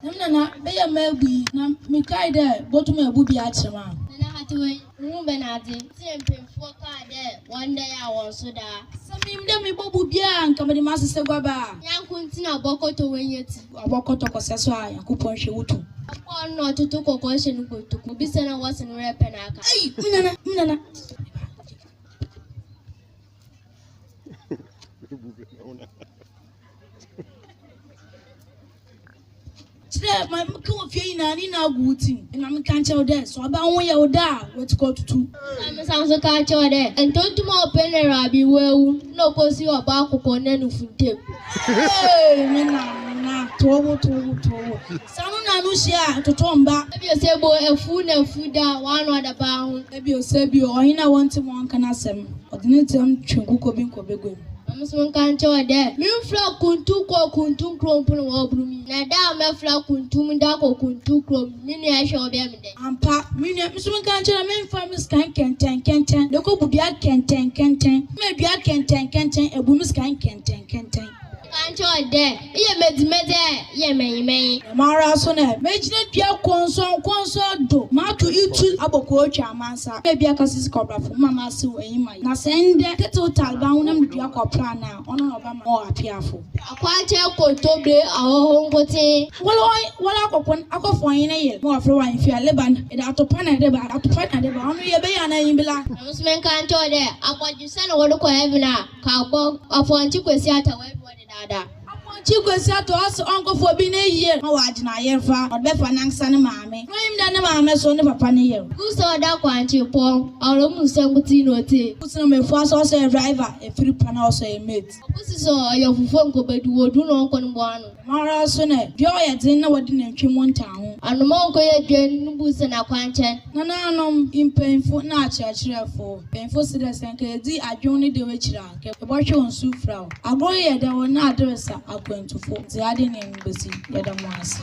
Hom na na bɛyɛ m'abu yi, na mekae dɛ botum ebu bi akyerɛ me a. Na na hate wei, muhun bɛ n'adze. Ntsi na mpanyimfoɔ kaa dɛ wɔndɛyaa hɔn so daa. Sɛ minyim dɛ mibɔbu bi a, nka mede m'asesɛ guaba. Nyɛnko ntsi na ɔbɔkɔtɔ w'enya ti. Ɔbɔkɔtɔ kɔsɛ so a, Nyankopɔn hwɛ wo tum. Ɔkɔr no na ɔtoto kɔkɔɔ hyɛ no kotoku mu, bisa no a wɔse no werɛ pɛ na aka. Ei! Me nana, me nana. Kyerɛ ma meka wɔ fie nyinaa ne nyinaa gu wo tim. Na meka nkyerɛ wo dɛ, sɛ ɔbaa ho yɛ wo dɛ a, woetukɔ atutu. Na mesan so ka kyerɛ wo dɛ, ntontom a ɔpɛ na Rabi oewu na okosi ɔbaa koko na nufu ntamu. Hey! Me na, me na, tow wo, tow wo, tow wo. Sɛ ano na ano hyia a, ɛtotɔ mba. Ebio sɛ bo efuw na efuw da a, w'ano adaba ho. Ebio sɛ ebio, ɔhen a wɔnntse ma ɔnnka n'asɛm, ɔdze ne ntsɛm twe nkokɔ bi nkɔ bagua mu. Hom so nkã nkyerɛ hɔn dɛ, Merefura kuntu kɔ kuntu kurow mpo na wɔbor me yi, na da a mɛfora kuntu mu dze akɔ kuntu kurow mu no, me nua hwɛ a ɔbɛyɛ me dɛn? Ampa, me nua, me so nkã nkyerɛ dɛ memfa me sika nkɛntsɛnkɛntsɛn na ekobu dua nkɛntsɛnkɛntsɛn, na dua nkɛntsɛnkɛntsɛn ebu me sika nkɛntsɛnkɛntsɛn. Nkã nkyerɛ hɔn dɛ, Eyɛ medzime dɛ yɛ mɛnyimɛnyi. Dɛm ara nso na megyina dua kɔnsɔnkɔnsɔn do, mato itu abɔ kootwa amansa, na bi akasa dze kɔbrafo mma m'asew enyi ma ye. Na sɛ ndɛ Kettle Tal ba honam dua kɔpra no a, ɔno na ɔbɛma ɔwɔ apeafo. Akwankyɛn nkontomire ahɔho nkotsee. Wɔle hɔn wɔle akɔkon akɔ fɔn hene yere ma wɔfrɛ wɔ ahemfie a leba no yɛde atopa na ɛde ba atopa na ɛde ba ɔno yɛ bɛyɛ anaa nyi bla. Dɛm nso menka nkyerɛ wo dɛ akɔdwesɛ na wɔde kɔ heaven a ka bɔ afɔnkye kwesi atawaa bi wɔ ne. Dada. Amoakyi Kwasi Atoaso ɔnkɔfa obi n'eyie ma ɔagye n'ayerfa na ɔde bɛfa nankasa ne maame. Ɔno enyim dɛ ne maame so ne papa ne yer. Gu sɛ ɔda kwankye pɔw. Aora mu nsɛm nkotsee na otsie. Gu sɛ na Mefua so ɔsɔ yɛ driver, efir pa na ɔsɔ yɛ mate. Gu sɛ sɛ ɔyɛ ɔfofo nkɔbɛdu wɔ du na ɔnkɔ no bo ano. Dɛm ara so na dua ɔyɛ dzen na wɔde nantwi mu ntaa ho. Anoma ɔnkɔyɛ dua no bu sɛ na kwankye. Nananom, mpanyimfo na akyerɛkyerɛfo. Mpanyimfo se dɛ sɛ nka yedzi adwen ne dɛw ekyir a. Yɛbɔhwe wo nsu fira wo. Agoro yɛda wo na aderesa akwantufo dze ade nyin besi yɛda mo ase.